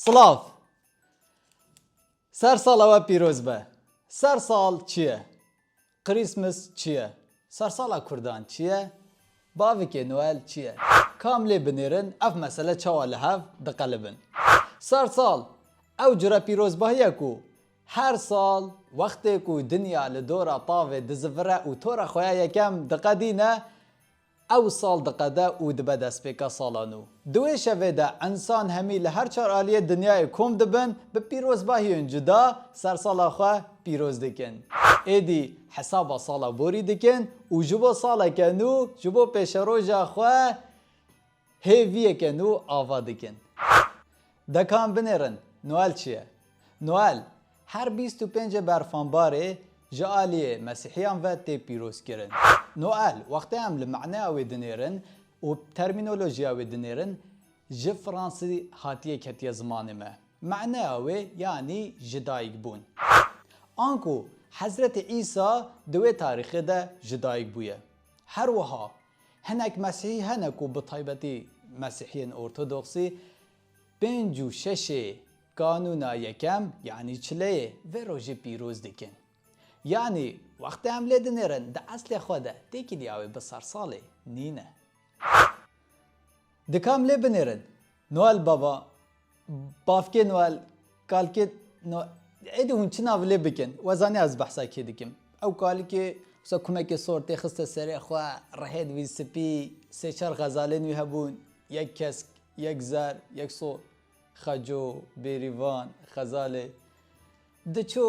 Slav. Ser sal ewe pîroz be. Ser sal çi ye? Christmas çi ye? Sersala Kurdan çi ye? Bavikê Noel çi ye? Kam lê binêrin ev mesele çawa li hev diqelibin? Ser sal ew cure pîrozbahiye ku Her sal wextê ku dinya li dora tavê dizivire û tora xwe ya yekem diqedîne, ew sal diqede û dibe destpêka sala nû. Di wê şevê de însan hemî li her çar aliyê dinyayê kom dibin, bi pîrozbahiyên cuda sersala xwe pîroz dikin. Êdî hesaba sala borî dikin û ji bo saleke nû, ji bo pêşeroja xwe, Hêviyeke nû ava dikin. Dekan binêrin, Noel çi ye? Noel, her bîst û pêncê berfanbarê ji aliyê mesîhiyan ve tê pîrozkirin. Noel, wextê em li maneya wê dinêrin û termînolojiya wê dinêrin, ji fransî hatiye ketiye zimanê me. Maneya wê yanî ji dayik bûn. Anku Hezretê Îsa di wê tarîxê de ji dayik bûye. Her wiha Hinek Mesîhî hene ku bi taybetî Mesîhiyên Ortodoksî pênc û şeşê Kanûna Yekem yanî Çileyê vê rojê pîroz dikin. Yanî wextê em lê dinêrin di eslê xwe de têkilîya wê bi sersalê nîne. Dika em lê binêrin Noel Bava Bavkê Noel, kalkê Noel êdî hûn çi nav lê bikin? We zanî ez behsa kî dikim. Ew kalikê wisa kumekê sor tê xiste serê xwe, rihêd wî spî, sê çar xezalên wî hebûn, yek kesk, yek zer, yek sor, xeco, bêrîvan, xezalê. Diçû.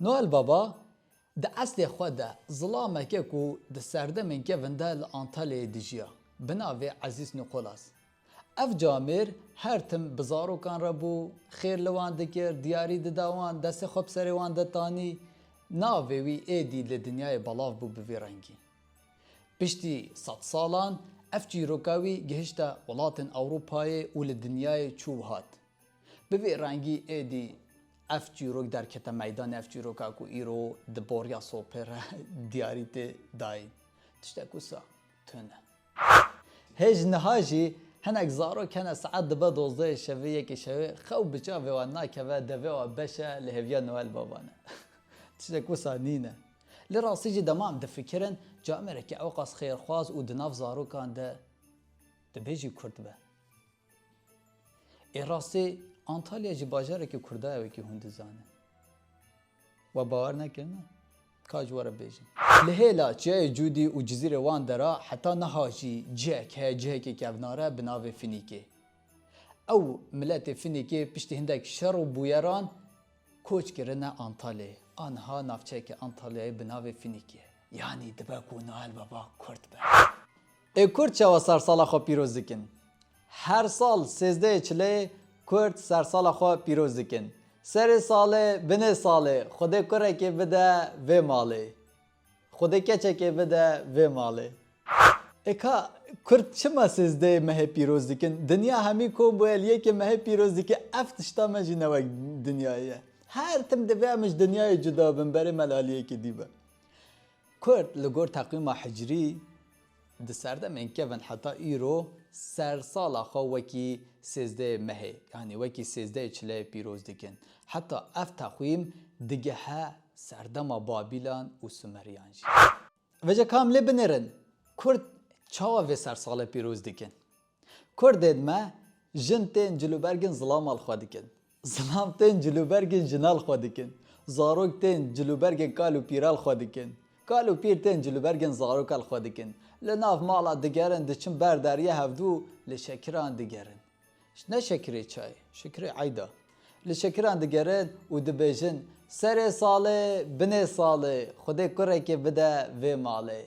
Noel Baba, di eslê xwe de zilameke ku di serdemên kevin de li Antalyayê dijiya, bi navê Ezîz Nikolas. Ev camêr her tim bi zarokan re bû, xêr li wan dikir, diyarî dida wan, destê xwe bi serê wan de tanî. Navê wî êdî li dinyayê belav bû bi vî rengî. Piştî sed salan ev çîroka wî gihişte welatên Ewropayê û li dinyayê çû û hat. Bi vê rengî êdî ev çîrok derkete meydanê, ev çîroka ku îro di boriya sopê re diyarî tê dayîn, tiştek wisa tune. Hê ji niha jî hinek zarok hene saet dibe dozdehê şevê, yekê şevê xew bi çavê wan nakeve, devê wan beş e li hêviya Noel Baban e. Tiştek wisa nîne. Li rastî jî dema em difikirin camerekî ewqas xêrxwaz û di nav zarokan de dibê jî kurt be. Ê rastî Antalya jî bajarekî Kurda ye wekî hûn dizanin. We bawer nekirine? Ka ji were bêjim. Li hêla Çiyayê Cûdî û Cizîrê Wan de re heta niha jî cihek heye cihekî kevnar e bi navê Finîkê. Ew miletê Finîkê piştî hindek şer û bûyeran koç kirine Antalyayê. A niha navçeyeke Antalyayê bi navê Finîkê ye. Yanî dibe ku Noel Baba Kurd be. Ê Kurd çawa sersala xwe pîroz dikin? Her sal sêzdehê çileyê Kurd sersala xwe pîroz dikin. Serê salê, binê salê Xwedê kurekê bide vê malê. Xwedê keçekê bide vê malê. Ê ka, Kurd çima sêzdehê mehê pîroz dikin? Dinya hemî kom bûye li yekê mehê pîroz dike, ev tişta me jî ne wek dinyayê ye. Her tim divê em ji dinyayê cuda bin berê me li aliyekê dî be. Kurd li gor teqwîma hicrî di serdemên kevin heta îro sersala xwe wekî sêzdeyê mehê yanî wekî sêzdeyê çileyê pîroz dikin. Heta ev teqwîm digehe serdema Babîlan û Sumeryan jî. Veja ka em lê binêrin kurd çawa vê sersala pîroz dikin? Kurdên me jin tên cilûbergên zilama li xwe dikin. Zilam tên cilûbergên jinal xwe dikin. Zarok tên cilûbergên kal û pîral xwe dikin. Kal û pîr tên cilûbergên zarokal xwe dikin. Li nav mala digerin, diçin ber derya hevdû û li şekiran digerin. Ne şekirê çayê, şekirê eyda. Li şekiran digerin û dibêjin, Serê salê, binê salê, Xwedê kurekê bide vê malê.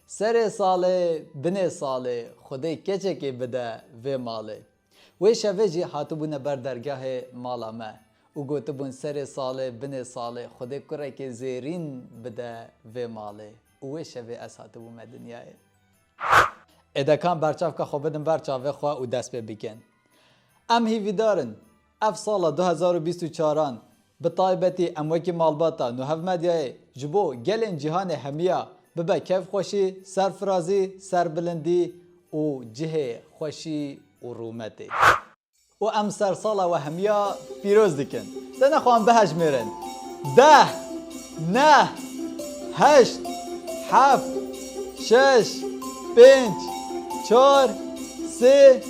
Serê salê, binê salê, Xwedê keçekê bide vê malê. Wê şevê jî hatibûne ber dergehê mala me û gotibûn serê salê binê salê Xwedê kurekê zêrîn bide vê malê û wê şevê ez hatibûme dinyayê. Êdekan berçavka xwe bidin ber çavê xwe û dest pê bikin. Em hîvîdar in Ev sala du hezar û bîst û çar an bi taybetî em wekî malbata Nuhav Medyayê ji bo gelên cîhanê hemiya bibe kevxweşî, serfirazî, serbilindî û cihê xweşî û rûmetê. Û em ser sala we hemiya pîroz dikin. Te nexwehan bihejmêrin. Deh! Neh! Heşt! Heft! Şeş! Pênc! Çar! Sê!